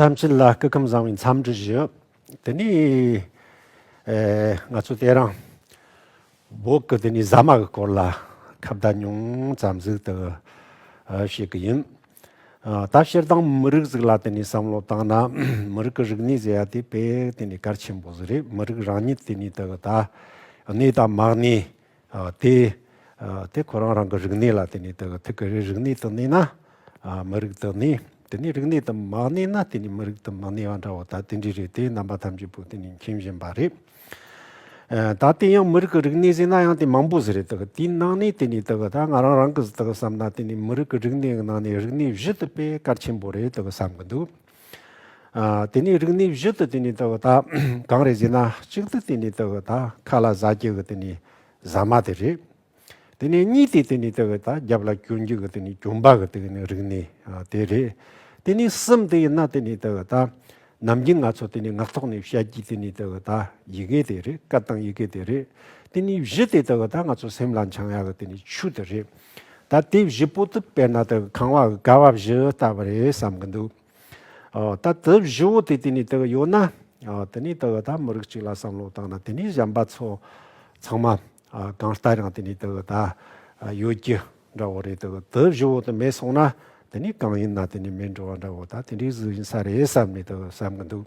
ཐམས་ཅད་ལ་སྐུ་ཁམས་བཟང་བའི་འཚམས་འདྲི་ཞུ། དེ་ནས་ང་ཚོ་སྟེ་རང་འབོག་གི་དེ་ནས་ཟ་མ་གི་སྐོར་ལ་ཁ་བརྡ་ཉུང་ཙམ་གཟིགས་དུ་བཤད་ཀྱི་ཡིན། ད་ཕྱིར་དང་མི་རིགས་ཟིག་ལ་དེ་ནས་བསམ་བློ་བཏང་ན་མི་རིགས་ཀྱི་རིག་གནས་ཟེར་ཡ་དེ་བས་དེ་ནས་གལ་ཆེན་པོ་ཟིག་རེད་མི་རིགས་རང་ཉིད་དེ་ནས་དེ་གི་ད་གནས་དང་མ་གནས། ཏེ། དེ་ཁོ་རང་རང་གི་རིག་གནས་ལ་བརྟེན་ནས་དེ་ཐུག་གི་རེད་རིག་གནས་དང་གནས་ན་མི་རིགས་དང་གནས། དེ་ནས་རིག་གནས་དང་མ་གནས་ན་དེ་ནས་མི་རིགས་དང་མ་གནས་པ་འདྲ་བོ་ད་དེ་འདྲས་རེད་དེ་རྣམ་པ་ཐམས་ཅད་པོ་དེ་ནས་མཁྱེན་བཞིན་པ་རེད། ད་དེ་ཡང་མི་རིགས་ཀྱི་རིག་གནས་ཟེར་ན་ཡང་དེ་མང་པོ་ཟེར་རེད་དེ་དེའི་ནང་ནས་དེ་ནས་དེ་ད་ང་རང་རང་གི་བསམ་ན་དེ་ནས་མི་རིགས་ཀྱི་རིག་གནས་ནང་ནས་རིག་གནས་བཞི་དེ་དཔེ་དཀར་ཆེན་པོ་རེད་དེ་བསམ་གྱི་འདུག། དེ་ནས་རིགས་ནི་བཞི་དུ་དེ་ནས་བཏགས་པ་དག་གང་རེད་ཅེ་ན་གཅིག་ཏུ་དེ་ནས་བཏགས་པ་དག་མཁའ་ལ་བཟའ་བརྒྱད་ཀྱི་དེ་ནས་བཟའ་མ་དེ་རེད། དེ་ནས་གཉིས་ཏེ་དེ་ནས་བཏགས་པ་དག་རྒྱབ་ལ་གྱོན་རྒྱུ་གི་དེ་ནས་གྱོན་པ་གི་དེ་ནས་རིགས་ནི་དེ་རེད། དེ་ནས་གསུམ་ཏེ་ཡིན་ན་དེ་ནས་བཏགས་པ་དག་ནམ་རྒྱུན་ང་ཚོ་དེ་ནས་ངག་ཐོག་ནས་བཤད་རྒྱུའི་དེ་ནས་བཏགས་པ་དག་ཡི་གེ་དེ་རེད་སྐད་དང་ཡི་གེ་དེ་རེད། དེ་ནས་བཞི་ཏེ་བཏགས་པ་དག་ང་ཚོ་སེམས་ལ་འཆང་ཡ་གི་དེ་ནས་ཆུ་དེ་རེད། ད་དེ་བཞི་པོ་དུག་པའི་ནད་དུ་གང་བ་དགའ་བ་བཞི་ལྟ་བུ་རེད་བསམ་གྱི་འདུག་ད་དེ་བཞི་བོ་དེ་དེ་ནས་དེ་གི་ཡོད་ན་དེ་ནས་དེ་གི་ད་མི་རིགས་གཅིག་ལ་བསམ་བློ་བཏང་ན་དེ་ནས་གཞན་པ་ཚོ་ཚང་མ་གང་ལྟ་ཡང་དེ་ནས་དེ་གི་ད་ཡོད་རྒྱུ་འདྲ་བོ་རེད་དེ་གི་དེ་བཞི་བོ་དེ་མེད་སོང་ན་དེ་ནས་གང་ཡིན་ན་དེ་ནས་མེད་འགྲོ་བ་འདྲ་བོ་ད་དེ་འདྲའི་གཟུགས་ཡིན་ས་རེད་བསམ་ནས་དེ་གི་བསམ་གྱི་འདུག་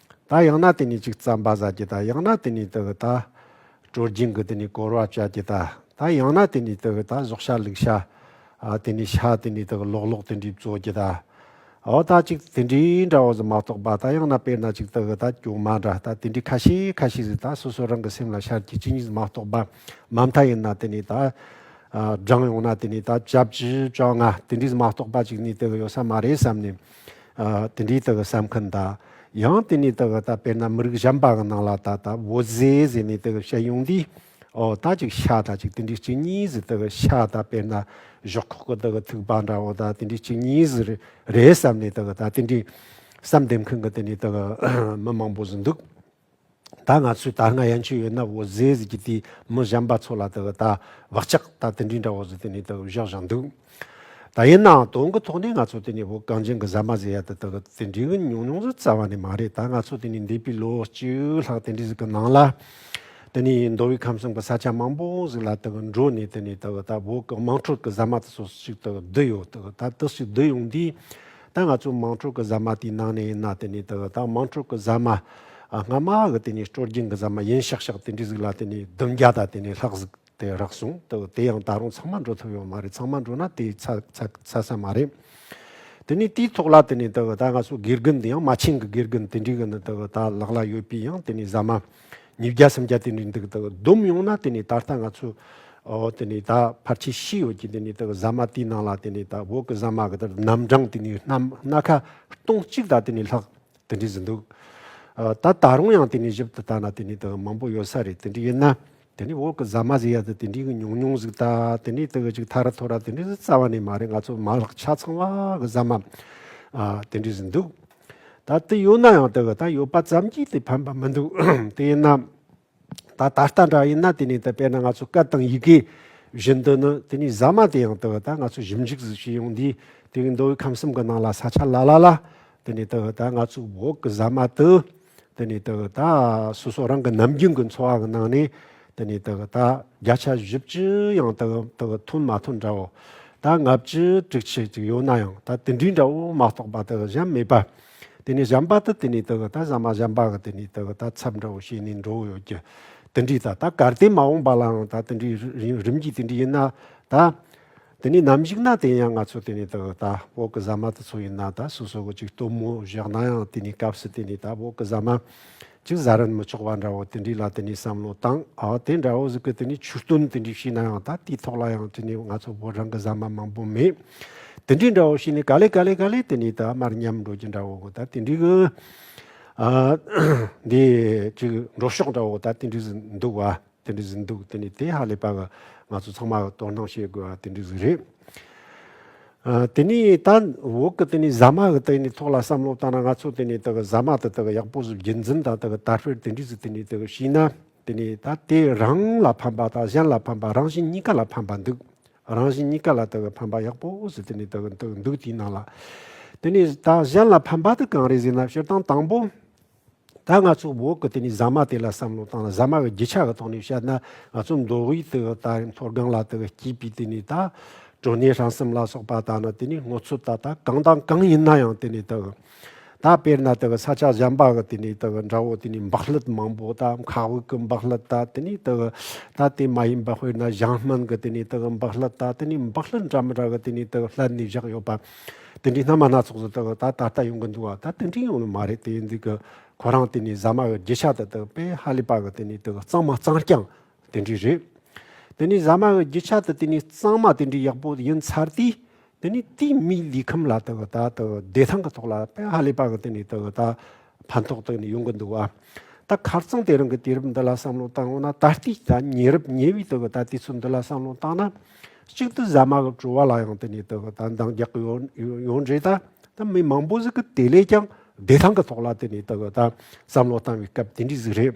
ད་ཡང་ན་དེ་ནས་ཅིག་བརྩམ་པ་ཟ་རྒྱུ་ད་ཡང་ན་དེ་ནས་དེ་བས་ད། དྲོ་རྒྱུན་གྱི་དེ་ནས་བསྐོར་བ་བྱ་རྒྱུ་ད། ད་ཡང་ན་དེ་ནས་དེ་བས་ད་གཞོག་ཤ་ལུག་ཤ། དེ་ནས་ཤ་དེ་ནས་དེ་ལོག་ལོག་དེ་འདྲའི་བཙོ་རྒྱུ་ད། འོ་ད་ཅིག་དེ་འདྲའི་འདྲ་བོ་ཟིག་མ་གཏོགས་པ་ད་ཡང་ན་དཔེར་ན་ཅིག་དེ་བས་ད་སྐྱོ་མ་འདྲ་ད་དེ་འདྲའི་ཁ་ཤས་ཁ་ཤས་ཟིག་ད་སོ་སོ་རང་གི་སེམས་ལ་ཤར་རྒྱུ་ཅི་ཡིན་ཟིག་མ་གཏོགས་པ། མ་མཐའ་ཡིན་ན་དེ་ནས་ད། སྦྲང་ཡོང་ན་དེ་ནས་ད་བྱ་བྱི་བྱ་ང་དེ་འདྲའི་ཟིག་མ་གཏོགས་པ་ཅིག་ནས་དེ་བས་ཡོད་ས་མ་རེད་བསམ་ནས། དེ་འདྲའི་དག་གི་ས་མཁན་དག། ཡང་དེ་ནས་དག་གི་ད་དཔེར་ན་མི་རིགས་གཞན་པ་གི་ནང་ལ་ད་ད་བོ་ཟེ་ཟེར་ནས་དག་གི་བཤད་ཡོང་དུས། ཨོ་ད་ཅིག་ཤ་ད་ཅིག་དེ་འདྲའི་གཅིག་གཉིས་ཟེར་དག་གི་ཤ་ད་དཔེར་ན་ཞོག་ཁོག་གི་དག་གི་ཐུག་པ་འདྲ་བོ་ད་དེ་འདྲའི་གཅིག་གཉིས་ཟེར་རེད་བསམ་ནས་དག་གི་ད་དེ་འདྲའི་བསམ་འདེབས་མཁན་གི་དེ་ནས་དག་གི་མི་མང་པོ་ཟིན་འདུག། ད་ང་ཚོས་ད་སྔ་ཡན་ཆོད་ཡོད་ན་བོད་ཟས་ཟེར་གྱི་དེ་མི་གཞན་པ་ཚོ་ལ་དེ་གི་ད་བག་ཆགས་ད་དེ་འདྲའི་འདྲ་བོ་ཟེར་དེ་ནས་དེ་གི་བཞག་བཞག་འདུག་ད་ཡིན་ནའང་དོན་གི་ཐོག་ནས་ང་ཚོ་དེ་ནས་བོད་གངས་ཅན་གི་ཟ་མ་ཟེར་ཡ་དེ་དེ་གི་དེ་འདྲའི་གི་ཉུང་ཉུང་ཟིག་རྩ་བ་ནས་མ་རེད་ད་ང་ཚོ་དེ་ནས་འདས་པའི་ལོ་བཅུ་ལྷག་དེ་འདྲའི་ཟིག་གི་ནང་ལ་དེ་ནས་མདོ་དབུས་ཁམས་གསུམ་གི་ས་ཆ་མང་པོ་ཟིག་ལ་དེ་གི་འགྲོ་ནས་དེ་ནས་དེ་གི་ད་བོད་གི་དམངས་ཁྲོད་གི་ཟ་མ་དེ་ཚོ་ཞིག་དེ་གི་བསྡུ་ཡོད་དེ་གི་ད་དེ་ཞིག་བསྡུ་ཡོང་དུས། ད་ང་ཚོ་དམངས་ཁྲོད་ཀྱི་ཟ་མ་དེའི་ནང་ནས་ཡིན་ན་དེ་ནས་ད་དམངས་ཁྲོད་ཀྱི་ཟ་མ། སྔ་མ་གི་དེ་ནས་སྤྲོ་སྦྱིན་གྱི་ཟ་མ་ཡིན་ཤག་ཤག་དེ་འདྲའི་ཟིག་ལ་དེ་ནས་བདུན་བརྒྱ་དང་དེ་ནས་ལྷག་ཟིག་དེ་རག་སོང་དེ་ཡང་ད་རུང་ཚང་མ་འགྲོ་ཐུབ་ཡོད་མ་རེད་ཚང་མ་འགྲོ་ན་དེ་ཚ་ས་མ་རེད། དེ་ནས་དེའི་ཐོག་ལ་དེ་ནས་ད་ང་ཚོ་དགེ་རྒན་དེ་ཡང་མ་ཆིངས་ཀྱི་དགེ་རྒན་དེ་འདྲའི་གི་ནི་ད་ལག་ལ་ཡོད་པའི་ཡང་དེ་ནས་ཟ་མ། ཉིས་བརྒྱ་སུམ་བརྒྱ་དེ་ནས་འདུག་དང་བསྡོམས་ཡོང་ན་དེ་ནས་ད་ལྟ་ང་ཚོ་དེ་ནས་ད་ཕར་ཆེ་བཞི་ཡོད་ཀྱི་དེ་ནས་ད་ཟ་མ་དེའི་ནང་ལ་དེ་ནས་ད་འོག་གི་ཟ་མ་གི་དེར་རྣམ་གྲངས་དེ་ནས་སྣ་སྣ་ཁ་སྟོང་གཅིག་ད་དེ་ནས་ལྷག་དེ་འདྲས་ཟིན་འདུག་ད་ད་རུང་ཡང་དེ་ནས་ཞིབ་ཏུ་བལྟ་ན་དེ་ནས་ད་མང་པོ་ཡོད་ས་རེད་དེ་འདྲས་ཡིན་ན་དེ་ནས་འོག་གི་ཟ་མ་ཟེར་ཡ་ད་དེ་འདྲས་གི་ཉུང་ཉུང་ཟིག་ད་དེ་ནས་ད་ཅིག་ཐ་ར་ཐོ་ར་དེ་འདྲས་ཟིག་རྩ་བ་ནས་མ་རེད་ང་ཚོ་མ་ལག་ཆ་ཚང་བ་གི་ཟ་མ་དེ་འདྲས་ཟིན་འདུག། ད་དུས་ཡོད་ན་ཡང་དེ་ག་ད་ཡོད་པ་ཙམ་གྱིས་དེ་ཕན་པ་མི་འདུག་དེ་ཡིན་ན། ད་ད་ལྟ་འདྲ་ཡིན་ན་དེ་ནས་དེ་བས་ན་ང་ཚོ་སྐད་དང་ཡི་གེ་བཞིན་དུ་ནི་དེ་ནས་ཟ་མ་དེ་ཡང་དེ་ག་ད་ང་ཚོ་ཞིབ་འཇུག་ཟིག་བྱས་ཡོང་དུས་དེ་གའི་མདོ་དབུས་ཁམས་གསུམ་གྱི་ནང་ལ་ས་ཆ་ལ་ལ་ལ་དེ་ནས་དེ་ག་ད་ང་ཚོའི་འོག་གི་ཟ་མ་དུ་དེ་ནས་དག་ད་སོ་སོ་རང་གི་ནམ་རྒྱུན་གྱི་འཚོ་བ་གི་ནང་ནས་དེ་ནས་དག་ད་བརྒྱ་ཆ་བཞི་བཅུ་ཡང་དག་དག་ཐོན་མ་ཐོན་འདྲ་བོ། ད་ལྔ་བཅུ་དྲུག་ཆུ་ཅིག་ཡོད་ན་ཡང་ད་དེ་འདྲའི་འདྲ་བོ་མ་གཏོགས་པ་དག་གཞན་མེད་པ། དེ་ནས་གཞན་པ་དག་དེ་ནས་དག་ད་ཟ་མ་གཞན་པ་གི་དེ་ནས་དག་ད་ཚབ་འདྲ་བོ་བྱས་ནས་འགྲོ་ཡོད་ཀྱི། དེ་འདྲའི་ད་ད་གར་སྟེ་མ་འོངས་པ་ལའང་ད་དེ་འདྲའི་རིམ་གྱིས་དེ་འདྲའི་ཡིན་ན་ད། དེ་ནས་ནམ་ཞིག་ན་དེ་ཡང་ང་ཚོ་དེ་ནས་ད་ད་བོད་ཀྱི་ཟ་མ་དེ་ཚོ་ཡིན་ན་ད་སོ་སོ་གི་ཅིག་སྟོན་མོ་བཞག་ན་ཡང་དེ་ནས་སྐབས་སུ་དེ་ནས་ད་བོད་ཀྱི་ཟ་མ་ཅིག་བཟའ་རན་མི་ཆོག་པ་འདྲ་བོ་དེ་འདྲའི་ལ་དེ་ནས་བསམ་བློ་བཏང་ཨ་དེ་འདྲ་བོ་ཟིག་གི་དེ་ནས་ཆུ་སྟོན་དེ་འདྲའི་བྱས་ན་ཡང་ད་དེའི་ཐོག་ལ་ཡང་དེ་ནས་ང་ཚོ་བོད་རང་གི་ཟ་མ་མང་པོ་མེད་དེ་འདྲའི་འདྲ་བོ་བྱས་ནས་ག་ལེ་ག་ལེ་ག་ལེ་དེ་ནས་ད་མར་ཉམས་འགྲོ་རྒྱུ་འདྲ་བོ་ད་དེ་འདྲའི་གི་ཨ་འདི་ཅིག་འགྲོ་ཕྱོགས་འདྲ་བོ་ད་དེ་འདྲའི་ཟིག་འདུག་བ། དེ་འདྲ་ཟིག་འདུག་དེ་ནི་དེ་ཧ་ལས་པ་ང་ཚོ་ཚང་མ་དོ་སྣང་བྱེད་དགོས་པ་དེ་འདྲ་ཟིག་རེད། དེ་ནི་ད་འོག་གི་དེ་ནི་ཟ་མ་གི་དེ་ནི་ཐོག་ལ་བསམ་བློ་བཏང་ན་ང་ཚོ་དེ་ནི་དེ་གི་ཟ་མ་དེ་དེ་གི་ཡག་པོ་ཟིག་རྒྱུན་འཛིན་དང་དེ་གི་དར་སྤེལ་དེ་འདྲ་ཟིག་དེ་ནི་དེ་གི་བྱས་ན་དེ་ནི་ད་དེ་རང་ལ་ཕན་པ་དང་གཞན་ལ་ཕན་པ་རང་བཞིན་གཉིས་ཀ་ལ་ཕན་པ་འདུག་རང་བཞིན་གཉིས་ཀ་ལ་དེ་གི་ཕན་པ་ཡག་པོ་ཟིག་དེ་ནི་དེ་གི་འདུག་དེའི་ནང་ལ་དེ་ནི་ད་གཞན་ལ་ཕན་པ་དེ་གང་རེད་ཟེར་ན་བཤད་སྟངས་དང་པོ། ད་ང་ཚོ་བོད་ཀྱི་དེ་ནས་ཟ་མ་དེ་ལ་བསམ་བློ་བཏང་ན་ཟ་མ་གི་རྒྱུ་ཆ་གི་ཐོག་ནས་བཤད་ན་ང་ཚོ་མདོ་དབུས་དེ་ག་ད་རིང་མཐོ་སྒང་ལ་དེ་ག་སྐྱིད་པའི་དེ་ནས་ད། གྲོ་ནས་ཧྲང་སེམས་ལ་སོགས་པ་ད་ནི་དེ་ནས་སྔོ་ཚོད་ད་ད་གང་དང་གང་ཡིན་ན་ཡང་དེ་ནས་དེ་ག། ད་དཔེར་ན་དེ་ག་ས་ཆ་གཞན་པ་གི་དེ་ནས་དེ་ག་འདྲ་བོ་དེ་ནས་འབག་སླུད་མང་པོ་ད་མཁའ་དབུགས་ཀྱི་འབག་སླུད་ད་དེ་ནས་དེ་ག། ད་དེ་མ་ཡིན་པ་དཔེར་ན་ཞང་སྨན་གྱི་དེ་ནས་དེ་ག་འབག་སླུད་ད་དེ་ནས་འབག་སླུད་འདྲ་མི་འདྲ་གི་དེ་ནས་དེ་ག་སླད་ནས་བཞག་ཡོད་པ། དེ་འདྲའི་སྣ་མ་སྣ་ཚོགས་སུ་ད་ད་ལྟ་ཡོང་གི་འདུག་ཨ་ད་དེ་འདྲའི་ཡོང་ནི་མ་རེད་དེ་འདི་གི་ཁོ་རང་དེ་ནས་ཟ་མ་གི་རྒྱུ་ཆ་དེ་དག་དཔེ་ཧ་ལས་པ་གི་དེ་ནས་དེ་གི་གཙང་མ་གཙང་རྐྱང་དེ་འདྲའི་རེད། དེ་ནས་ཟ་མ་གི་རྒྱུ་ཆ་དེ་དེ་ནས་གཙང་མ་དེ་འདྲའི་ཡག་པོ་ཡིན་ཚར་དུས་དེ་ནས་དེའི་མིའི་ལུས་ཁམས་ལ་དེ་གི་ད་དེ་གི་བདེ་ཐང་གི་ཐོག་ལ་དཔེ་ཧ་ལས་པ་གི་དེ་ནས་དེ་གི་ད། ཕན་ཐོགས་དག་ནི་ཡོང་གི་འདུག་བ། ད་གར་ཚང་དེ་རང་གི་དུས་རབས་འདི་ལ་བསམ་བློ་བཏང་འོང་ན་ད་ལྟའི་ད་ཉེ་རབས་ཉེ་བའི་དུ་བ་ད་དུས་ཚོད་འདི་ལ་བསམ་བློ་བཏང་ན། གཅིག་ཏུ་ཟ་མ་གི་བྲོ་བ་ལ་ཡང་དེ་ནས་དུ་བ་ད་འདང་རྒྱག་གི་ཡོད་ཡོད་རེད་ད། ད་མི་མང་པོ་ཟིག་གི་དེ་ལས་ཀྱང་བདེ་ཐང་གི་ཐོག་ལ་དེ་ནས་དུ་བ་ད་བསམ་བློ་བཏང་བའི་སྐབས་དེ་འདྲའི་ཟིག་རེད།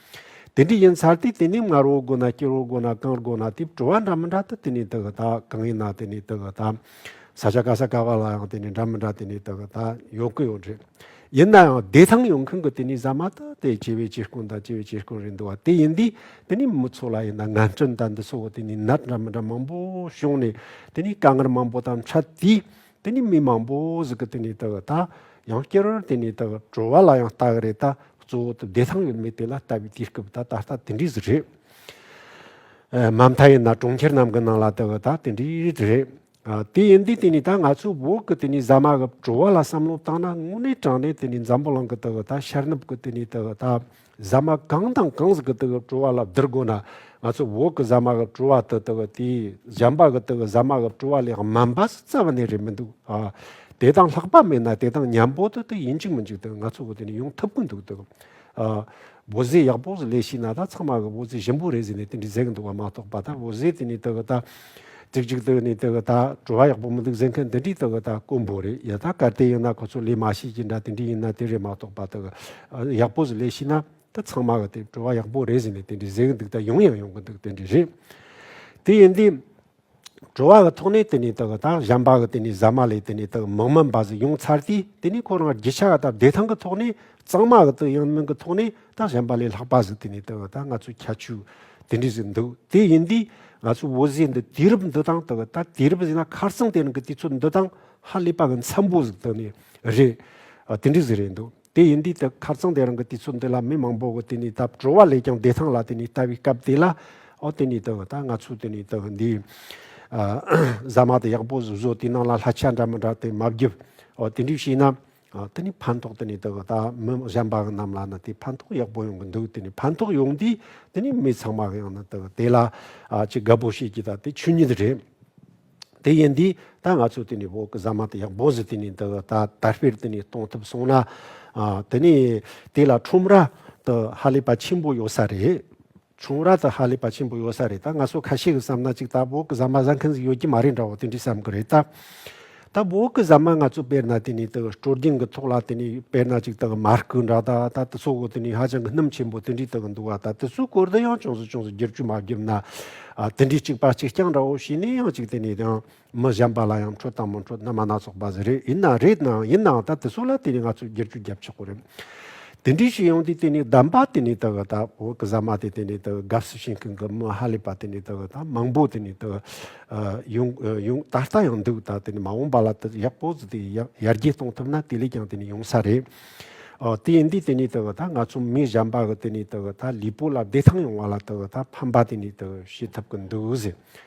དེ་འདྲ་ཡིན་ཚར་དུས་དེ་ནས་མངར་བོ་དགོས་ན་སྐྱུར་བོ་དགོས་ན་གང་དགོས་ན་དེ་བྲོ་བ་འདྲ་མི་འདྲ་དུ་དེ་ནས་དུ་གི་ད་གང་ཡིན་ན་དེ་ནས་དུ་གི་ད། ས་ཆ་ག་ས་ག་བ་ལ་ཡང་དེ་ནས་འདྲ་མི་འདྲ་དེ་ནས་དུ་གི་ད་ཡོང་གི་ཡོད་རེད། ཡིན་ན་ཡང་བདེ་ཐང་ཡོང་མཁན་གྱི་དེ་ནས་ཟ་མ་དུ་དེ་སྐྱེ་བའི་སྐྱེ་རྐུན་དང་སྐྱེ་བའི་སྐྱེ་རྐུན་རེད་འདུག་བ་དེ་ཡིན་དུས་དེ་ནས་མི་ཚོ་ལ་ཡིན་ན་ངན་སྐྲུན་དང་འདི་ཚོ་དེ་ནས་ནད་འདྲ་མི་འདྲ་མང་པོ་བྱུང་ནས་དེ་ནས་དཀའ་ངལ་མང་པོ་དང་འཕྲད་དུས་དེ་ནི་མི་མང་པོ་ཟིག་གི་དེ་ནས་དག་ད་ཡང་སྐྱེ་རོར་དེ་ནས་དག་གྲོལ་བ་ལ་ཡང་ལྟ་གི་རེད་ད་གཙོ་བོ་དུ་བདེ་ཐང་ཡོད་མེད་དེ་ལ་ལྟ་བའི་དུས་སྐབས་ད་ད་ལྟ་དེ་འདྲའི་ཟིག་རེད། མ་མཐའ་ཡིན་ན་གྲོང་ཁྱེར་རྣམས་གི་ནང་ལ་དག་ད་དེ་འདྲའི་རེད། དེ་ཡིན་དུས་དེ་ནས་ད་ང་ཚོའི་བོད་ཀྱི་དེ་ནས་ཟ་མ་གི་བྲོ་བ་ལ་བསམ་བློ་བཏང་ན་དངོས་གནས་དྲང་གནས་དེ་ནས་འཛམ་བུ་གླིང་གི་དག་ད་ཤར་ནུབ་ཀྱི་དེ་ནས་དག་ད། ཟ་མ་གང་དང་གང་ཟག་གི་དག་གི་བྲོ་བ་ལ་བསྡུར་དགོས་ན། ང་ཚོས་འོག་གི་ཟ་མ་གི་བྲོ་བ་དེ་དག་དེའི་གཞན་པ་གི་དག་གི་ཟ་མ་གི་བྲོ་བ་ལས་དམའ་འབའ་སུ་རྩ་བ་ནས་རེད་མི་འདུག་ཨ། དེ་དང་ལྷག་པ་མེད་ན་དེ་དང་མཉམ་པོ་དེ་དག་ཡིན་གཅིག་མིན་གཅིག་དེ་ང་ཚོ་འོག་དེ་ནས་ཡོང་ཐུབ་གི་འདུག་དག་ཨ། འོ་ཟེ་ཡག་པོ་ཟེ་ལས་ཤེས་ན་ད་ཚང་མ་གི་འོ་ཟེ་ཞིམ་པོ་རེད་ཟེ་ནས་དེ་འདྲའི་ཟེ་གི་འདུག་བ་མ་གཏོགས་པ་ད་འོ་ཟེ་དེ་ནས་དག་གི་ད། ཅིག་ཅིག་སྟེ་ནས་དེ་གི་ད་བྲོ་བ་ཡག་པོ་མི་འདུག་ཟེར་མཁན་དེ་འདྲིས་དེ་གི་ད་དཀོན་པོ་རེད་ཡ་ད་གར་དེ་ཡིན་ན་ཁོ་ཚོ་ལས་མ་ཤེས་ཀྱི་འདྲ་དེ་འདྲིས་ཡིན་ན་དེ་རེད་མ་གཏོགས་པ་དེ་གི་ཡག་པོ་ཟིག་ལས་ཤེས་ན་ད་ཚང་མ་གི་དེ་བྲོ་བ་ཡག་པོ་རེད་ཟེར་ནས་དེ་འདྲིས་ཟེར་གི་འདུག་ད་ཡོང་ཡང་ཡོང་གི་འདུག་དེ་འདྲིས་རེད་དེ་ཡིན་དུས། བྲོ་བ་གི་ཐོག་ནས་དེ་ནས་དེ་གི་ད་གཞན་པ་གི་དེ་ནས་ཟ་མ་ལས་དེ་ནས་དེ་གི་མིག་སྨན་པ་ཟིག་ཡོང་ཚར་དུས་དེ་ནས་ཁོ་རང་རྒྱུ་ཆ་གི་ད་བདེ་ཐང་གི་ཐོག་ནས་གཙང་མ་གི་དང་ཡང་སྣང་གི་ཐོག་ནས་ད་གཞན་པ་ལས་ལྷག་པ་ཟིག་དེ་ནས་ད་གི་ད་ང་ཚོའི་ཁྱད་ཆོས་དེ་འདྲས་ཟིག་འདུག་དེ་ཡིན་དུས་ང་ཚོའི་བོད་ཟས་འདི་དུས་རབས་འདི་དང་ད་གི་ད་དུས་རབས་ཟིག་ན་ཁར་སང་དེ་རིང་གི་དུས་ཚོད་འདི་དང་ཧ་ལས་པ་གི་འཚམས་པོ་ཟིག་དེ་ནས་རེད། དེ་འདྲས་ཟིག་རེད་འདུག་དེ་ཡིན་དུས་ད་ཁར་སང་དེ་རིང་གི་དུས་ཚོད་འདི་ལ་མི་མང་པོ་གི་དེ་ནས་ད་བྲོ་བ་ལས་ཀྱང་བདེ་ཐང་ལ་དེ་ནས་ལྟ་བའི་སྐབས་དེ་ལ་ཨོ་དེ་ནས་ད་གི་ད་ང་ཚོའི་དེ་ནས་ད་གི་འདི་ཟ་མ་དེ་ཡག་པོ་ཟིག་བཟོས་དུས་ནང་ལ་ལྷ་ཆ་འདྲ་མི་འདྲ་དེ་མ་བརྒྱབ་ཨོ་དེ་འདྲས་བྱས་ན། དེ་ནི་ཕན་ཐོགས་དེ་ནི་དེ་ད་མི་གཞན་པ་རྣམས་ལ་ནི་དེ་ཕན་ཐོགས་ཡག་པོ་ཡོང་གི་འདུག་དེ་ནི་ཕན་ཐོགས་ཡོང་དུས་དེ་ནི་མི་ཚང་མ་ཡང་ན་དེ་དེ་ལ་ཅི་དགའ་པོ་བྱེད་ཀྱི་ད་དེ་ཆོས་ཉིད་རེད། དེ་ཡིན་དུས་ད་ང་ཚོས་དེ་ནི་བོད་ཀྱི་གཟའ་མ་དེ་ཡག་པོ་ཞིག་དེ་ནི་དེ་ད་དར་སྤེལ་དེ་ནི་གཏོང་ཐུབ་སོང་ན་དེ་ནི་དེ་ལ་ཁྲོམ་ར་དེ་ཧ་ལས་པ་ཆེན་པོ་ཡོད་ས་རེད། ཆུང་ར་དང་ཧ་ལས་པ་ཆེན་པོ་ཡོད་ས་རེད་ད་ང་སོ་ཁ་ཤས་ཀྱི་བསམ་ན་ཅིག་ད་བོད་ཀྱི་ཟ་མ་ཟ་མཁན་ཟིག་ཡོད་ཀྱི་མ་རེད་འདྲ་བོ་དེ་འདྲས་བསམ་གི་རེད་ད། ད་བོད་ཀྱི་ཟ་མ་ང་ཚོས་དཔེར་ན་དེ་ནས་དེ་སྤྲོ་རྒྱན་གྱི་ཐོག་ལ་དེ་ནས་དཔེར་ན་ཅིག་དང་མར་སྐུ་འདྲ་ད་ད་དེ་ཚོ་གོ་དེ་ནས་ཧ་ཅང་གི་སྣུམ་ཆེན་པོ་དེ་འདྲས་དེ་གི་འདུག་ད་དེ་ཚོའི་སྐོར་དུ་ཡང་ཅུང་ཟད་ཅུང་ཟད་བསྒྱུར་བཅོས་མ་བརྒྱུབ་ན། དེ་འདྲས་ཅིག་པ་ཅིག་རྐྱང་འདྲ་བོ་བྱས་ནས་ཡང་ཅིག་དེ་ནས་ཡང། མི་གཞན་པ་ལ་ཡང་འཕྲོད་དང་མི་འཕྲོད་རྣལ་མ་སྣ་ཚོགས་པ་ཟེར་རེད་ཡིན་ན་རེད་ནའང་ཡིན་ནའང་ད་དེ་ཚོ་ལ་དེ་ནས་ང་ཚོས་བསྒྱུར་བཅོས་བརྒྱབ་ཆོག་གི་རེད། དེ་འདྲའི་ཞིག་ཡོང་དུས་དེ་ནས་བདམས་པ་དེ་ནས་དག་ད་བོད་ཀྱི་ཟ་མ་དེ་དེ་ནས་དག་དགའ་བསུ་བྱེད་མཁན་གྱི་མི་ཧ་ལས་པ་དེ་ནས་དག་ད་མང་པོ་དེ་ནས་དག་ཡོང་ཡོང་ད་ལྟ་ཡང་འདུག་ད་དེ་ནས་མ་འོངས་པ་ལ་དེ་ཡག་པོ་དེ་ཡར་རྒྱས་གཏོང་ཐུབ་ན་དེ་ལས་ཀྱང་དེ་ནས་ཡོང་ས་རེད། དེ་ཡིན་དུས་དེ་ནས་དག་ད་ང་ཚོ་མི་གཞན་པ་གི་དེ་ནས་དག་ད་ལུས་པོ་ལ་བདེ་ཐང་ཡོང་བ་ལ་དག་ད་ཕན་པ་དེ་ནས་དག་བྱེད་ཐུབ་ཀྱི་འདུག་ཟེར་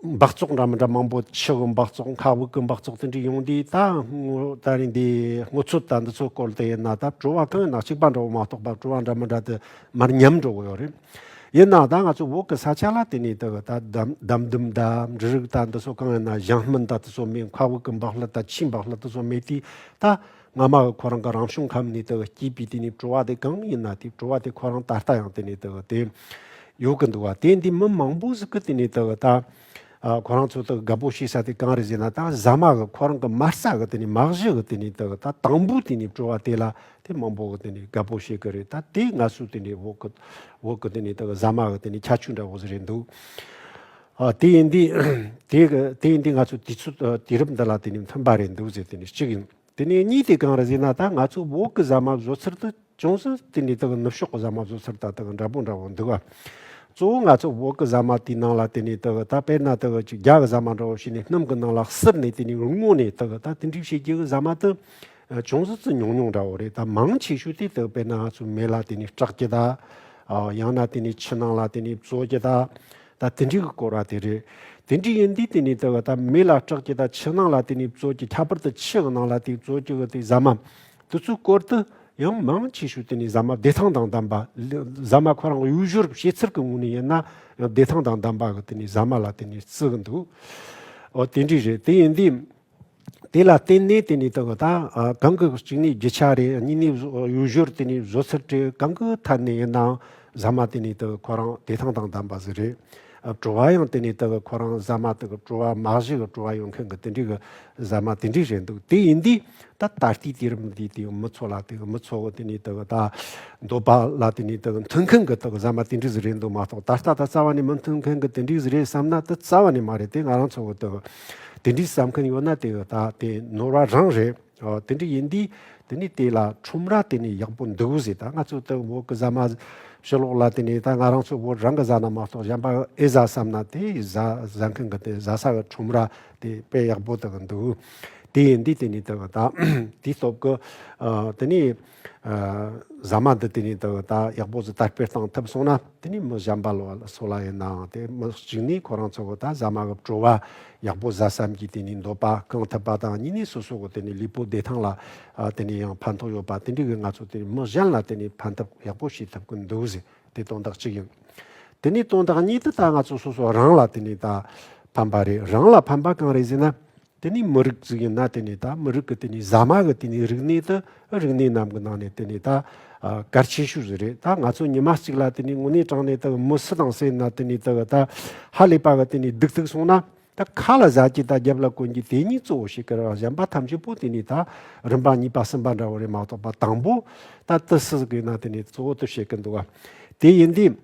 འབག་བཙོག་འདྲ་མི་འདྲ་མང་པོ་ཆུ་གི་འབག་བཙོག་མཁའ་དབུགས་ཀྱི་འབག་བཙོག་དེ་འདྲའི་ཡོང་དུས་ད་སྔོ་ད་རིང་འདི་སྔོ་ཚོད་ལྟ་འདི་ཚོད་སྐོར་དེ་ཡིན་ན་ད་བྲོ་བ་གང་ཡིན་ན་གཅིག་པ་འདྲ་བོ་མ་གཏོགས་པ་བྲོ་བ་འདྲ་མི་འདྲ་དེ་མར་ཉམས་འགྲོ་གི་ཡོད་རེད། ཡིན་ནའང་ད་ང་ཚོ་འོག་གི་ས་ཆ་ལ་དེ་ནས་དག་ད་འདམ་འདུམ་ད་འབྲུ་རིགས་ད་འདི་ཚོ་གང་ཡིན་ན་གཞང་སྨིན་ད་དེ་ཚོ་མེད་མཁའ་དབུགས་ཀྱི་འབག་ལྷ་ད་ཕྱིའི་འབག་ལྷ་དེ་ཚོ་མེད་དུས་ད་སྔ་མ་ཁོ་རང་གི་རང་བྱུང་ཁམས་ནས་དེ་སྐྱེས་པའི་དུས་ནས་བྲོ་བ་དེ་གང་ཡིན་ན་དེ་བྲོ་བ་དེ་ཁོ་རང་ད་ལྟ་ཡང་དེ་ནས་དེ་དེ་ཡོད་ཀི་འདུག་བ་དེ་འདི་མི་མང་པོ་ཟིག་གི་དེ་ནས་དེ་ད་ཁོ་རང་ཚོ་དེ་དགའ་པོ་བྱེད་ས་དེ་གང་རེད་ཟེར་ན་ད་ཟ་མ་གི་ཁོ་རང་གི་མ་རྩ་གི་དེ་ནས་མ་གཞི་གི་དེ་ནས་དེ་ད་དང་པོ་དེ་ནས་བྲོ་བ་དེ་ལ་དེ་མང་པོ་གི་དེ་ནས་དགའ་པོ་བྱེད་གི་རེད་ད་དེ་ང་ཚོ་དེ་ནས་འོག་གི་འོག་གི་དེ་ནས་དེ་ཟ་མ་གི་དེ་ནས་ཁྱ་ཆུ་འདྲ་བོ་ཟིག་རེད་འདུག། དེ་ཡིན་དུས། དེ་ཡིན་དུས་ང་ཚོ་དུས་ཚོད་དུས་རབས་འདི་ལ་དེ་ནི་མཐུན་པ་རེད་འདུག་ཟེར་དེ་ནི་གཅིག་ཡིན། དེ་ནས་གཉིས་དེ་གང་རེད་ཟེར་ན་ད་ང་ཚོ་བོད་ཀྱི་ཟ་མ་བཟོ་ཚུལ་དུ་ཅུང་ཟད་དེ་ནི་དེ་གི་ནུབ་ཕྱོགས་ཀྱི་ཟ་མ་བཟོ་ཚུལ་དང་དེ་གི་འདྲ་པོ་འདྲ་བོ་འདུག་ཨ། གཙོ་བོ་ང་ཚོ་བོད་ཀྱི་ཟ་མ་དེའི་ནང་ལ་དེ་ནི་དེ་གི་ད་དཔེར་ན་དེ་གི་རྒྱ་གི་ཟ་མ་འདྲ་བོ་ཞིག་ནི་སྣུམ་གྱི་ནང་ལ་བསིར་ནས་དེ་ནི་རུལ་མོ་ནས་དེ་གི་ད་དེ་འདྲའི་བྱེད་རྒྱུ་གི་ཟ་མ་དེ་ཅུང་ཟད་ཙི་ཉུང་ཉུང་འདྲ་བོ་རེད་ད་མང་ཆེ་ཤོས་དེ་དེ་གི་དཔེར་ན་ང་ཚོའི་མེ་ལ་དེ་ནི་སྐྲག་རྒྱུ་ད། ཡང་ན་དེ་ནི་ཕྱི་ནང་ལ་དེ་ནི་བཙོ་རྒྱུ་ད། ད་དེ་འདྲིའི་གི་སྐོར་ར་དེ་རེད། དེ་འདྲི་ཡིན་དུས་དེ་ནི་དེ་གི་ད་མི་ལ་སྐྲག་གི་ད་ཕྱི་ནང་ལ་དེ་ནི་བཙོ་གི་ཁྱད་པར་དུ་ཕྱི་ནང་ལ་དེ་བཙོ་གི་གི་དེ་ཟ་མ། དེ་ཚོའི་སྐོར་དུ་ཡང་མང་ཆེ་ཤོས་དེ་ནི་ཟ་མ་བདེ་ཐང་དང་ལྡན་པ། ཟ་མ་ཁོ་རང་གི་དབུས་ཞོར་ཕྱི་ཚུལ་གི་ངོས་ནས་ཡིན་ན་ཡང་བདེ་ཐང་དང་ལྡན་པ་གི་དེ་ནི་ཟ་མ་ལ་དེ་ནི་བརྩི་གི་འདུག་ཨོ་དེ་འདྲི་རེད་དེ་ཡིན་དུས། དེ་ལ་བརྟེན་ནས་དེ་ནས་དང་ད་གང་གི་གཅིག་ནས་བརྒྱུད་ཆ་རེ་གཉིས་ནས་གཡུ་ཞོར་དེ་ནས་བཟོ་ཚུལ་དྲི་གང་གི་ཐད་ནས་ཡིན་ནའང་ཟ་མ་དེ་ནས་དང་ཁོ་རང་བདེ་ཐང་དང་ལྡན་པ་ཟིག་རེད། བྲོ་བ་ཡང་དེ་ནས་དང་ཁོ་རང་ཟ་མ་དང་བྲོ་བ་མ་གཞི་གི་བྲོ་བ་ཡོང་མཁན་གི་དེ་འདྲའི་གི་ཟ་མ་དེ་འདྲའི་རེད་འདུག་དེ་ཡིན་དུས་ད་ད་ལྟའི་དུས་རིམ་འདིའི་དུས་མི་ཚོ་ལ་དང་མི་ཚོ་དེ་ནས་དང་ད་འདོད་པ་ལ་དེ་ནས་དང་མཐུན་མཁན་གི་དང་ཟ་མ་དེ་འདྲའི་ཟིག་རེད་འདུག་མ་གཏོགས་ད་ལྟ་ད་རྩ་བ་ནས་མི་མཐུན་མཁན་གི་དེ་འདྲའི་ཟིག་རེད་བསམ་ན་དེ་རྩ་བ་ནས་མ་རེད་དེ་ང་རང་ཚོ་དང། དེ་འདྲའི་བསམ་མཁན་ཡོད་ན་དེ་ད་དེ་ནོར་བ་རང་རེད། དེ་འདྲ་ཡིན་དུས་དེ་ནས་དེ་ལ་ཁྲོམ་ར་དེ་ནས་ཡག་པོ་འདུག་ཟེར་ད་ང་ཚོ་ལྟ་བུ་བོད་ཀྱི་བཟའ་མ་ཕྱི་ལོག་ལ་དེ་ནས་ད་ང་རང་ཚོ་བོད་རང་གི་བཟའ་ན་མ་གཏོགས་གཞན་པ་ཨེ་བཟའ་བསམ་ན་དེ་བཟའ་བཟའ་མཁན་གྱི་དེ་བཟའ་ས་གི་ཁྲོམ་ར་དེ་དཔེ་ཡག་པོ་དག་འདུག་དེ་ཡིན་དུས་དེ་ནས་དེ་ད་དེའི་སྟོབས་ཀྱི་དེ་ནས། ཟ་མ་འདི་དེ་ནས་ད་བར་ད་ཡག་པོ་ཟོ་དར་སྤེལ་གཏང་ཐུབ་སོང་ན་དེ་ནས་མི་གཞན་པ་ལ་བ་ལ་སོ་ལ་ཡིན་ནའང་དེ་མི་གཅིག་ནས་ཁོ་རང་ཚོ་གོ་ད་ཟ་མ་གི་བྲོ་བ་ཡག་པོ་ཟ་བསམ་གྱིས་དེ་ནས་འདོད་པ་བསྐང་ཐུབ་པ་དང་གཉིས་ནས་སོ་སོ་གོ་དེ་ནས་ལུས་པོ་བདེ་ཐང་ལ་དེ་ནས་ཡང་ཕན་ཐོག་ཡོད་པ་དེ་འདྲི་གི་ང་ཚོ་དེ་ནས་མི་གཞན་ལ་དེ་ནས་ཕན་ཐབས་ཡག་པོ་བྱེད་ཐུབ་ཀྱི་འདུག་ཟེར་དེ་དོན་དག་གཅིག་ཡིན། དེ་ནས་དོན་དག་གཉིས་དེ་ད་ང་ཚོ་སོ་སོ་རང་ལ་དེ་ནས་ད་ཕན་པ་རེད་རང་ལ་ཕན་པ་གང་རེད་ཟེར་ན། དེ་ནས་མི་རིགས་གཟུགས་ཡིན་ན་དེ་ནས་ད་མི་རིགས་ཀྱི་དེ་ནས་ཟ་མ་གི་དེ་ནས་རིག་གནས་དང་རིག་གནས་རྣམས་ཀྱི་ནང་ནས་དེ་ནས་ད་གལ་ཆེ་ཤོས་ཟིག་རེད་ད་ང་ཚོ་ཉི་མ་གཅིག་ལ་དེ་ནས་དངོས་གནས་དྲང་གནས་དང་མི་སུ་དང་སུ་ཡིན་ན་དེ་ནས་དག་ད་ཧ་ལས་པ་གི་དེ་ནས་སྡུག་ཐུག་སོང་ན་ད་ཁ་ལ་བཟའ་གྱི་ད་རྒྱབ་ལ་གོན་གྱི་དེ་གཉིས་གཙོ་བོ་ཞིག་གི་རང་བཞན་པ་ཐམས་ཅད་པོ་དེ་ནས་ད་རིམ་པ་གཉིས་པ་གསུམ་པ་འདྲ་བོ་རེད་མ་གཏོགས་པ་དང་པོ་ད་ཏི་སི་ཟིག་ཡིན་ན་དེ་ནས་གཙོ་བོ་དུ་བཤད་གི་འདུག་ག་དེ་ཡིན་དུས།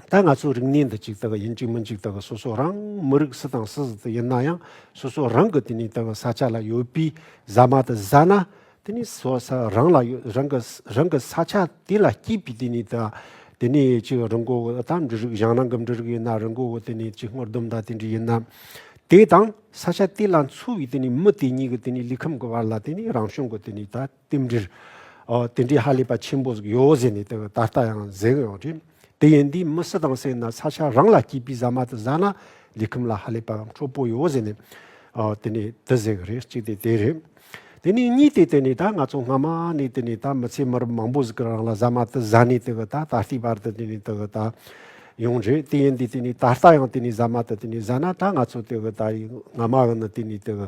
ད་ང་ཚོའི་རིག་གནས་འདི་གཅིག་ལྟ་གི་ཡིན་གཅིག་མིན་གཅིག་ལྟ་གི་སོ་སོ་རང་མི་རིགས་སུ་དང་སུ་ཟིག་ཏུ་ཡིན་ན་ཡང་སོ་སོ་རང་གི་དེ་ནས་ལྟ་གི་ས་ཆ་ལ་ཡོད་པའི་ཟ་མ་དེ་ཟ་ན་དེ་ནས་སོ་ས་རང་ལ་ཡོད་རང་གི་རང་གི་ས་ཆ་དེ་ལ་སྐྱིད་པའི་དེ་ནས་ལྟ་དེ་ནས་ཅིག་རི་མགོ་བོ་ད་འབྲི་རིགས་བཞེངས་ན་གི་འབྲི་རིགས་ཡིན་ན་རི་མགོ་བོ་དེ་ནས་ཅིག་སྔོ་ལྡུམ་ད་དེ་འདྲ་ཡིན་ན་དེ་དང་ས་ཆ་དེ་ལ་འཚོ་བའི་དེ་ནས་མི་དེ་གཉིས་ཀྱི་དེ་ནས་ལུས་ཁམས་ཀྱི་བར་ལ་དེ་ནས་རང་བྱུང་གི་དེ་ནས་ལྟ། རྟེན་འབྲེལ། དེ་འདྲའི་ཧ་ལས་པ་ཆེན་པོ་ཟིག་ཡོད་ཟེར་ནས་ད་ལྟ་ཡང་ཟེར་གི་ཡོད་རེད། དེ་ཡིན་དུས་མི་སུ་དང་སེ་ན་ས་ཆ་རང་ལ་སྐྱིད་པའི་ཟ་མ་དེ་བཟའ་ན་ལས་ཁུམས་ལ་ཧ་ལས་པ་ཡང་འཕྲོད་པོ་ཡོད་ཟེར་ནས། དེ་ནས་དེ་ཟེར་གི་རེད་གཅིག་དེ་དེ་རེད། དེ་ནས་གཉིས་དེ་དེ་ནས་ད་ང་ཚོ་སྔ་མ་ནས་དེ་ནས་ད་མི་ཚེ་མི་རབས་མང་པོ་ཟིག་གི་རང་ལ་ཟ་མ་དེ་བཟའ་ནས་དེ་གི་ད་ད་ལྟའི་བར་དུ་དེ་ནས་དེ་གི་ད་ཡོང་རེད་དེ་ཡིན་དུས་དེ་ནས་ད་ལྟ་ཡང་དེ་ནས་ཟ་མ་དེ་དེ་ནས་བཟའ་ན་ད་ང་ཚོ་དེ་གི་ད་ཡི་སྔ་མ་གི་ནི་དེ་ནས་དེ་གི་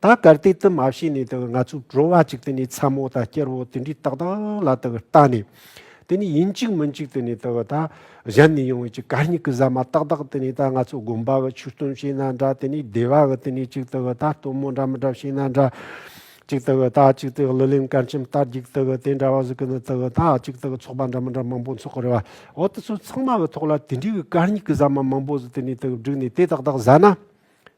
ད་གར་དེ་ཙམ་མ་བྱས་ནས་དང་ང་ཚོའི་བྲོ་བ་ཅིག་དེ་ནས་ཚ་མོ་དང་སྐྱེར་བོ་དེ་འདྲའི་ཏག་ཏག་ལ་དང་བལྟ་ནས་དེ་ནས་ཡིན་གཅིག་མིན་གཅིག་དེ་ནས་དང་ད་གཞན་ནས་ཡོང་བའི་ཅིག་གར་སྙིགས་ཀྱི་ཟ་མ་ཏག་ཏག་དེ་ནས་ད་ང་ཚོ་དགོན་པ་བ་ཆུ་སྟོན་བྱས་ན་འདྲ་དེ་ནས་སྡེ་བ་བ་དེ་ནས་ཅིག་དང་བལྟ་སྟོན་མོ་འདྲ་མི་འདྲ་བྱས་ན་འདྲ་ཅིག་དང་བལྟ་ཅིག་དང་གླུ་ལེན་སྐར་ཆེམས་རྟ་རྒྱུག་དང་བལྟ་དེ་འདྲ་བ་ཟིག་གི་ནི་དང་བལྟ་ཅིག་དང་ཚོགས་པ་འདྲ་མི་འདྲ་མང་པོ་འཚོགས་ཀྱི་རེད་བ་འོ་དེ་ཚོ་ཚང་མ་བའི་ཐོག་ལ་དེ་འདྲའི་བའི་གར་སྙིགས་ཀྱི་ཟ་མ་མང་པོ་ཟིག་དེ་ནས་དང་བསྒྲིགས་ནས་དེ་ཏག་ཏག་ཟ་ན་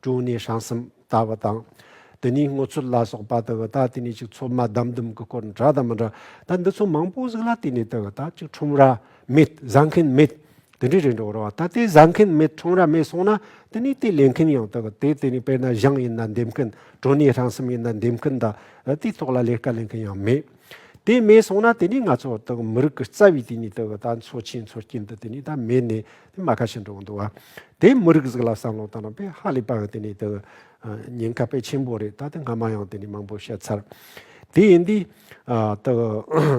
དྲུང་ནས་བྱང་གསུམ་ལྟ་བུ་དང། དེ་ནས་སྔོ་ཚོད་ལ་སོགས་པ་ལྟ་བུ་དང་དེ་ནས་ཅིག་ཚོད་མ་བསྡམས་བསྡུམས་ཀྱི་སྐོར་འདྲ་དང་མི་འདྲ་དང་འདི་ཚོ་མང་པོ་གཟིགས་ལ་དེ་ནས་ལྟ་བུ་དང་ཅིག་ཁྲོམ་ར་མེད་བཟའ་མཁན་མེད་དེ་འདྲའི་རེ་འབྲས་རོ་བ་ད་ལྟའི་བཟའ་མཁན་མེད་ཁྲོམ་ར་མེད་སོང་ན་དེ་ནས་དེ་ལས་མཁན་ཡང་ལྟ་བུ་དེ་དེ་ནས་དཔེར་ན་ཞང་ཡིན་ན་འདེབས་མཁན་དྲུང་ནས་བྱང་གསུམ་ཡིན་ན་འདེབས་མཁན་དང་དེའི་ཐོག་ལ་ལས་ཀ་ལས་མཁན་ཡང་མེད་དེ་མེད་སོང་ན་དེ་ནས་ང་ཚོ་དང་མི་རིགས་ཀྱི་རྩ་བའི་དེ་ནས་ལྟ་བུ་དང་འཚོ་ཆེན་འཚོ་རྐྱེན་དུ་དེ་ནས་ད་མེད་ནས། དེ་མ་ཁ་ཞིག་འགྲོ་གི་འདུག་བ། དེའི་མི་རིགས་ཟིག་ལ་བསམ་བློ་བཏང་ན་དཔེ་ཧ་ལས་པ་ཡང་དེ་ནས་དེ། ཉེན་ཁ་དཔེ་ཆེན་པོ་རེད་ད་དེ་སྔ་མ་ཡང་དེ་ནས་མང་པོ་བཤད་ཚར། དེ་ཡིན་དུས། དེ།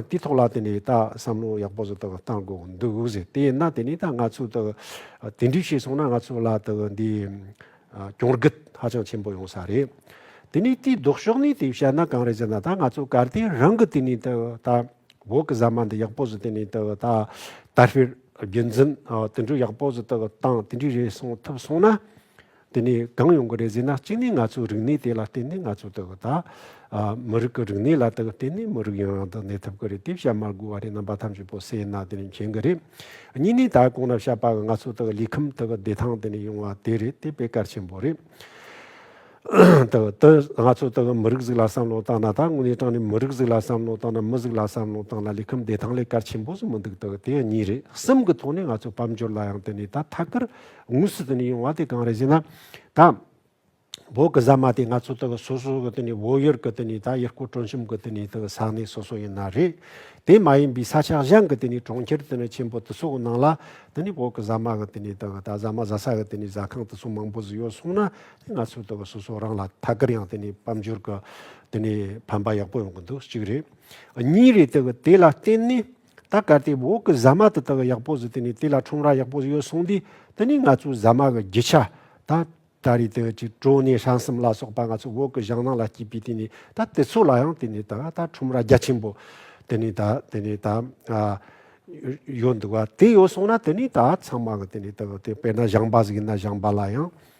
དེའི་ཐོག་ལ་དེ་ནས་ད་བསམ་བློ་ཡག་པོ་ཟིག་དེ་བཏང་དགོས་གི་འདུག་ཟེར་དེ་ཡིན་ན་དེ་ནས་ད་ང་ཚོས་དེ། དེ་འདྲའི་བྱས་སོང་ན་ང་ཚོ་ལ་དེ་འདི། གྱོང་རྒུད་ཧ་ཅང་ཆེན་པོ་ཡོང་ས་རེད། དེ་ནས་དེའི་ལྡོག་ཕྱོགས་ནས་དེ་བཤད་ན་གང་རེད་ཟེར་ན་ད་ང་ཚོ་གར་དེ་རང་གི་དེ་ནས་དེ་ད། འོག་གི་ཟ་མ་འདི་ཡག་པོ་ཟིག་བསྟན་ནས་དེ་ད་ལྟ་ཧྥེ་རྒྱུད་འཛིན་དེ་འདྲུ་ཡག་པོ་ཟིག་དེ་དང་དེ་འདྲི་རེ་སོང་ཐུབ་སོང་ན་དེ་ནས་གང་ཡོང་གི་རེད་ཟེར་ན་གཅིག་ནས་ང་ཚོའི་རིག་གནས་དེ་ལ་བསྟན་ནས་ང་ཚོ་དེ་ད་མི་རིགས་ཀྱི་རིག་གནས་ལ་དེ་བསྟན་ནས་མི་རིགས་ཡང་ཡང་དུ་གནས་ཐུབ་ཀྱི་རེད་དེ་བཤད་མ་དགོས་བ་རེད་རྣམ་པ་ཐམས་ཅད་པོ་སེ་ན་དེ་ནས་མཁྱེན་གྱི་རེད་གཉིས་ནས་ད་གོང་ན་བཤད་པ་གི་ང་ཚོ་དེ་ལུས་ཁམས་དེ་བདེ་ཐང་དེ་ནས་ཡོང་བ་དེ་རེད་དེ་དཔེ་གལ་ཆེན་པོ་རེད། དང། དུ། ང་ཚོ་དང་མི་རིགས་གཟུགས་ལ་བསམ་བློ་བཏང་ན་ད་དངོས་གནས་དྲང་ནས་མི་རིགས་གཟུགས་ལ་བསམ་བློ་བཏང་ན་མི་གཟུགས་ལ་བསམ་བློ་བཏང་ན་ལས་ཁུམས་བདེ་ཐང་ལས་ཀར་ཆེན་པོ་ཟུ་མི་འདུག་དང་དེ་ཡང་གཉིས་རེད་གསུམ་གི་ཐོག་ནས་ང་ཚོ་དཔལ་འབྱོར་ལ་ཡང་དེ་ནས་ད་ཐད་ཀར་དངོས་སུ་དེ་ནས་ཡོང་བ་དེ་གང་རེད་ཟེར་ན། ད། བོད་གི་གཟའ་མ་དེ་ང་ཚོ་དང་སོ་སོ་གི་དེ་ནས་བོད་ཡུལ་གི་དེ་ནས་ད་ཡུལ་སྐོར་དྲོན་ཆུང་གི་དེ་ནས་དང་ས་གནས་སོ་སོ་ཡིན་ན་རེད། དེ་མ་ཡིན་པའི་ས་ཆ་གཞན་གི་དེ་ནས་གྲོང་ཁྱེར་དེ་ནས་ཆེན་པོ་དེ་སོགས་ནང་ལ་དེ་ནས་བོད་གི་གཟའ་མ་གི་དེ་ནས་དང་ད་གཟའ་མ་བཟའ་ས་གི་དེ་ནས་བཟའ་ཁང་དེ་སོགས་མང་པོ་ཟུ་ཡོད་སོང་ན་ང་ཚོས་ལྟོས་པ་སོ་སོ་རང་ལ་ཐད་ཀར་ཡང་དེ་ནི་དཔལ་འབྱོར་གྱི་དེ་ནི་ཕན་པ་ཡག་པོ་ཡོང་གི་འདུག་གཅིག་རེད། གཉིས་རེད་དེ་གི་དེ་ལ་བརྟེན་ནས་ད་གལ་ཏེ་འོག་གི་ཟ་མ་དེ་དག་ཡག་པོ་ཟིག་དེ་ནི་དེ་ལ་ཁྲོམ་ར་ཡག་པོ་ཟིག་ཡོད་སོང་དུས་དེ་ནི་ང་ཚོའི་ཟ་མ་གི་རྒྱུ་ཆ་ད་ད་རེད་དེ་གཅིག་ཀྲོ་ནེ་ཧྲན་སིམ་ལ་སོགས་པ་ང་ཚོ་འོག་གི་ཞང་ནང་ལ་སྐྱེས་པའི་དེ་ནི་ད་དེ་ཚོ་ལ་ཡང་དེ་ནི་ད་ད་ཁྲོམ་ར་རྒྱ་ཆེན་པོ་དེ་ནི་ད་དེ་ནི་ད་ཡོད་འདུག་བ་དེ་ཡོད་སོང་ན་དེ་ནི་ད་ཚང་མ་གི་དེ་ནི་ད་དེ་དཔེར་ན་ཞང་པ་ཟིག་ཡིན་ན་ཞང་པ་ལ་ཡང།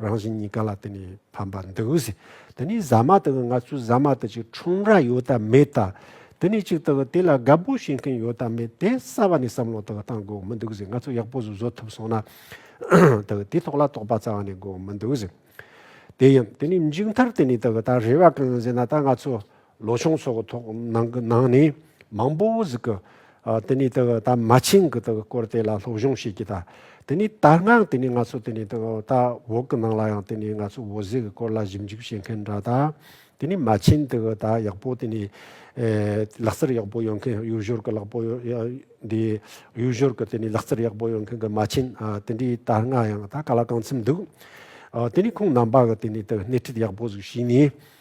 རང་བཞིན་གཉིས་ཀ་ལ་དེ་ནི་ཕན་པར་འདུག་གཟི། དེ་ནི་བཟའ་མ་དག་གི་ང་ཚོའི་བཟའ་མ་དག་ཅིག་ཁྲོམ་ར་ཡོད་དམ་མེད་དང། དེ་ནི་གཅིག་དག་དེ་ལ་དགའ་པོ་བྱེད་མཁན་ཡོད་དམ་མེད་དེ་གསར་བ་ནས་བསམ་བློ་དག་བཏང་དགོས་མི་འདུག་གཟི་ང་ཚོ་ཡག་པོ་ཟུ་བཟོ་ཐུབ་སོང་ན། དག་དེ་ཐོག་ལ་དོགས་པ་རྩ་བ་ནས་དགོས་མི་འདུག་གཟི། དེ་ཡིན་དེ་ནི་མཇུག་མཐར་དེ་ནི་དག་ད་རེ་བ་གང་ཡིན་ཟེར་ན་ད་ང་ཚོ་ལོ་ཆུང་ཚོགས་གི་ཐོག་ནང་གི་ནང་ནས་མང་པོ་ཟིག་གི་དེ་ནས་དེ་གི་ད་མ་ཆིངས་གི་དེ་གི་སྐོར་དེ་ལ་སློབ་སྦྱོང་བྱེད་ཀྱི་ད་དེ་ནས་དར་སྔགས་དེ་ནས་ང་ཚོ་དེ་ནས་དེ་གི་ད་འོག་གི་ནང་ལ་ཡང་དེ་ནས་ང་ཚོ་འོ་ཟེ་གི་སྐོར་ལ་ཞིབ་འཇུག་བྱེད་མཁན་འདྲ་ད་དེ་ནས་མ་ཆིངས་དེ་གི་ད་ཡག་པོ་དེ་ནས་ལག་རྩལ་ཡག་པོ་ཡོད་མཁན་གཡུ་བཞོར་གི་ལག་པོ་འདི་གཡུ་བཞོར་གི་དེ་ནས་ལག་རྩལ་ཡག་པོ་ཡོད་མཁན་གི་མ་ཆིངས་དེ་འདྲའི་དར་སྔགས་ཡང་ད་ག་ལ་གང་འཚམ་འདུག་དེ་ནས་ཁོང་རྣམ་པ་གི་དེ་ནས་དེ་གི་སྣེ་ཁྲིད་ཡག་པོ་ཟིག་བྱས་ནས་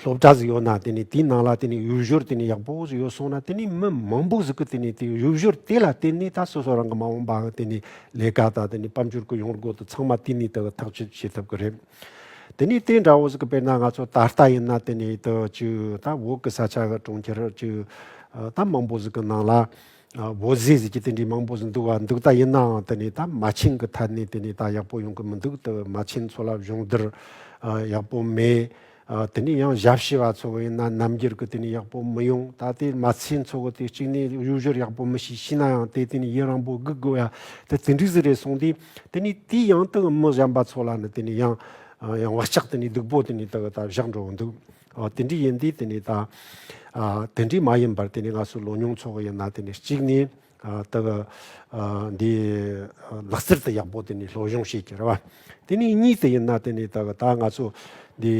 སློབ་གྲྭ་ཟིག་ཡོད་ན་དེ་ནི་དེའི་ནང་ལ་དེ་ནི་ཡུལ་ཤུལ་དེ་ནི་ཡག་པོ་ཟིག་ཡོད་སོང་ན་དེ་ནི་མི་མང་པོ་ཟིག་གི་དེ་ནི་དེ་ཡུལ་ཤུལ་དེ་ལ་བརྟེན་ནས་ད་སོ་སོ་རང་གི་མ་འོངས་པའང་དེ་ནི་ལས་ཀ་དང་དེ་ནི་དཔལ་འབྱོར་གི་ཡོང་སྒོ་དེ་ཚང་མ་དེ་ནི་དེ་ཐག་གཅོད་བྱེད་ཐུབ་ཀྱི་རེད། དེ་ནི་དེ་འདྲ་བོ་ཟིག་གི་དཔེར་ན་ང་ཚོ་ད་ལྟ་ཡིན་ན་དེ་ནི་དེ་ཅི་ད་འོག་གི་ས་ཆ་གྲོང་ཁྱེར་ཅི་ད་མང་པོ་ཟིག་གི་ནང་ལ་བོད་ཟས་ཟེར་གྱི་དེ་འདྲའི་མང་པོ་ཟིག་འདུག་བ་འདུག་ད་ཡིན་ནའང་དེ་ནས་ད་མ་བྱིན་གི་ཐ་ནས་དེ་ནས་ད་ཡག་པོ་ཡོང་གི་མི་འདུག་དེ་མ་བྱིན་ཚོ་ལ་གཞུང་བསྡུར་ཡག་པོ་མེད། དེ་ནས་ཡང་ཞབས་ཕྱི་བ་ཚོ་ཡིན་ན་རྣམ་འགྱུར་གི་དེ་ནས་ཡག་པོ་མི་ཡོང་ད་དེ་མ་བྱིན་ཚོ་གི་དེ་གཅིག་ནས་གཡུ་བཞུར་ཡག་པོ་མི་ཤེས་ཤེས་ན་ཡང་དེ་དེ་ནས་ཡིད་རང་པོ་སྒུག་དགོས་ཡ་དེ་དེ་འདྲའི་ཟིག་རེད་གསུངས་དེ་དེ་ནས་དེའི་ཡང་དེ་གི་མི་གཞན་པ་ཚོ་ལ་ནི་དེ་ནས་ཡང་ཡང་བག་ཆགས་དེ་ནས་སྡུག་པོ་དེ་ནས་དེ་གི་ད་བཞག་འགྲོ་འདུག། དེ་འདྲི་ཡིན་དུས་དེ་ནི་ད། དེ་འདྲི་མ་ཡིན་པར་དེ་ནི་ང་ཚོའི་ལོ་མྱོང་ཚོགས་ཡིན་ན་དེ་ནི་གཅིག་ནི། དག། འདི། ལག་རྩེར་དུ་ཡག་པོ་དེ་ནི་སློབ་སྦྱོང་བྱེད་ཀྱི་རེད་བ། དེ་ནི་གཉིས་དེ་ཡིན་ན་དེ་ནི་དག་ད་ང་ཚོ། འདི།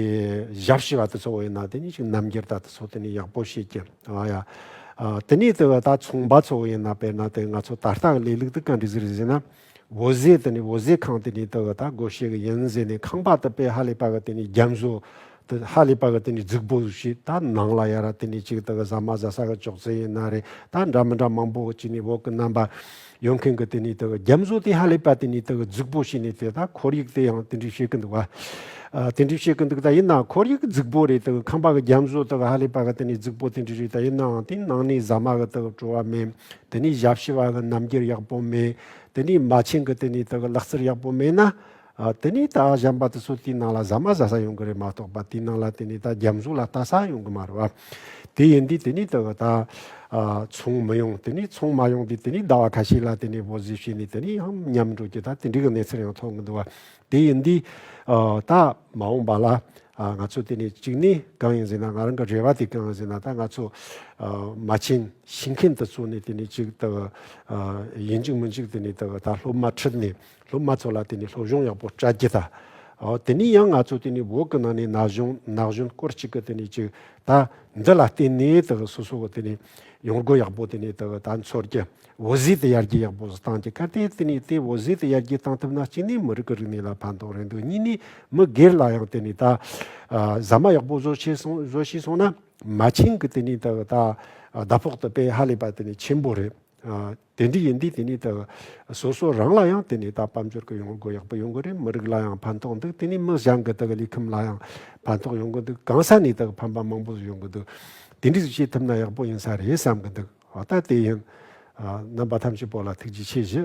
ཞབས་ཕྱི་བ་དེ་ཚོ་ཡིན་ན་དེ་ནི་ཅིག་རྣམ་རྒྱལ་ད་དེ་ཚོ་དེ་ནི་ཡག་པོ་བྱེད་ཀྱི། དེ་ནི་དག་ད་ཚོང་པ་ཚོ་ཡིན་ན་དཔེར་ན་དེ་ང་ཚོ་ད་ལྟ་ལས་ལུགས་དུ་ག་འདྲི་ཟེར་ཟེར་ན། འོ་བཟེད་དེ་ནི་འོ་བཟེད་ཁང་དེ་ནི་དེ་བ་ད་སྒོ་ཤེ་གི་ཡིན་བཟེད་ནི་ཁང་པ་དེ་པའི་ཧ་ལི་པ་གི་དེ་ནི་རྒྱ་མཟོ། དེ་ཧ་ལི་པ་གི་དེ་ནི་རྫིག་པོ་ཞིག་ད་ནང་ལ་ཡ་ར་དེ་ནི་གཅིག་དེ་གི་ཟ་མ་ཟ་ས་གི་ཅོག་ཙེ་ཡིན་ན་རེད་ད་འདྲ་མི་འདྲ་མང་པོ་གཅིག་ནི་འོག་གི་རྣམ་པ། ཡོང་མཁན་གི་དེ་ནི་དེ་གི་རྒྱ་མཟོ་དེ་ཧ་ལི་པ་དེ་ནི་དེ་གི་རྫིག་པོ་ཞིག་ནི་དེ་ད་ཁོར་ཡུག་དེ་ཡང་དེ་འདྲས་བཤད་གི་འདུག་བ། དེ་འདྲས་བཤད་གི་འདུག་ད་ཡིན་ན་ཁོར་ཡུག་གི་རྫིག་པོ་རེད་དེ་གི་ཁང་པ་གི་རྒྱ་མཟོ་དེ་གི་ཧ་ལི་པ་གི་དེ་ནི་རྫིག་པོ་དེ་འདྲས་རེད་ད་ཡིན་ནའང་དེ་ནང་ནས་ཟ་མ་གི་དེ་གི་བྲོ་བ་མེད། དེ་ནས་ཞབས་ཕྱི་བ་ལ་རྣམ་འགྱུར་ཡག་པོ་མེད། དེ་ནས་མ་བྱན་གྱི་དེ་ནས་དེ་གི་ལག་རྩལ་ཡག་པོ་མེད་ན། དེ་ནས་ད་གཞན་པ་དེ་ཚོ་དེའི་ནང་ལ་ཟ་མ་ཟ་ས་ཡོང་གི་རེད་མ་གཏོགས་པ་དེའི་ནང་ལ་དེ་ནས་ད་རྒྱ་མཚོ་ལ་ལྟ་ས་ཡོང་གི་མ་རེད་བ། དེ་ཡིན་དུས་དེ་ནས་དེ་གི་ད་ཚོང་མི་ཡོང་དེ་ནས་ཚོང་མ་ཡོང་དུས་དེ་ནས་ཟླ་བ་ཁ་ཤས་ལ་དེ་ནས་བོད་གཟི་བྱས་ནས་དེ་ནས་ཡང་ཉམས་འགྲོ་རྒྱུ་ད་དེ་འདྲའི་གི་གནས་ཚུལ་ཡང་མཐོང་གི་འདུག་བ། དེ་ཡིན་དུས། ད་མ་འོངས་པ་ལ། ང་ཚོ་དེ་ནས་གཅིག་ནས་གང་ཡིན་ཟེར་ན་ང་རང་གི་རེ་བ་དེ་གང་ཡིན་ཟེར་ན་ད་ང་ཚོ། མ་བྱན་ཞིང་ཁན་དུ་ཚུགས་ནས་དེ་ནས་གཅིག་ད། ཡིན་གཅིག་མིན་གཅིག་དེ་ནས་ད་སློབ་མ་ཁྲིད་ནས་སློབ་མ་ཚོ་ལ་དེ་ནས་སློབ་སྦྱོང་ཡག་པོ་སྤྲད་རྒྱུ་ད། དེ་ནས་ཡང་ང་ཚོ་དེ་ནས་འོག་གི་ནང་ནས་ན་གཞོན་ན་གཞོན་སྐོར་ཅིག་གི་དེ་ནས་གཅིག་ད་འདི་ལ་བརྟེན་ནས་ད་སོ་སོ་གི་དེ་ནས་ཡོང་སྒོ་ཡག་པོ་དེ་ནས་ད་འཚོལ་རྒྱུ་བོད་གཞིས་དེ་ཡར་རྒྱས་ཡག་པོ་བཟོ་སྟངས་ཀྱི་སྐར་དེ་དེ་ནས་དེ་བོད་གཞིས་དེ་ཡར་རྒྱས་བཏང་ཐུབ་ན་གཅིག་ནས་མི་རིགས་ཀྱི་རིག་གནས་ལ་ཕན་ཐོག་རེད་འདུག་གཉིས་ནས་མི་སྒེར་ལ་ཡང་དེ་ནས་ད་ཟ་མ་ཡག་པོ་བཟོ་ཤེས་སོང་བཟོ་ཤེས་སོང་ན་མ་ཆིངས་ཀྱི་དེ་ནས་ད་ད་ཟླ་ཕོགས་དུ་པས་ཧ་ལས་པ་དེ་ནས་ཆེན་པོ་རེད། དེ་འདྲ་ཡིན་དུས་དེ་ནས་ད་སོ་སོ་རང་ལ་ཡང་དེ་ནས་ད་དཔལ་འབྱོར་གྱི་ཡོང་སྒོ་ཡག་པོ་ཡོང་གི་རེད་མི་རིགས་ལ་ཡང་ཕན་ཐོག་འདུག་དེ་ནས་མི་གཞན་གྱི་ད་ལུས་ཁམས་ལ་ཡང་ཕན་ཐོག་ཡོང་གི་འདུག་གང་ས་ནས་ད་ཕན་པ་མང་པོ་ཡོང་གི་འདུག་དེ་འདྲ་བྱེད་ཐུབ་ན་ཡག་པོ་ཡིན་ས་རེད་བསམ་གྱི་འདུག། བ་ལྟ་སྟེ་ཡང། རྣམ་པ་ཐམས་ཅད་པོ་ལ་ཐུགས་རྗེ་ཆེ་བཞི།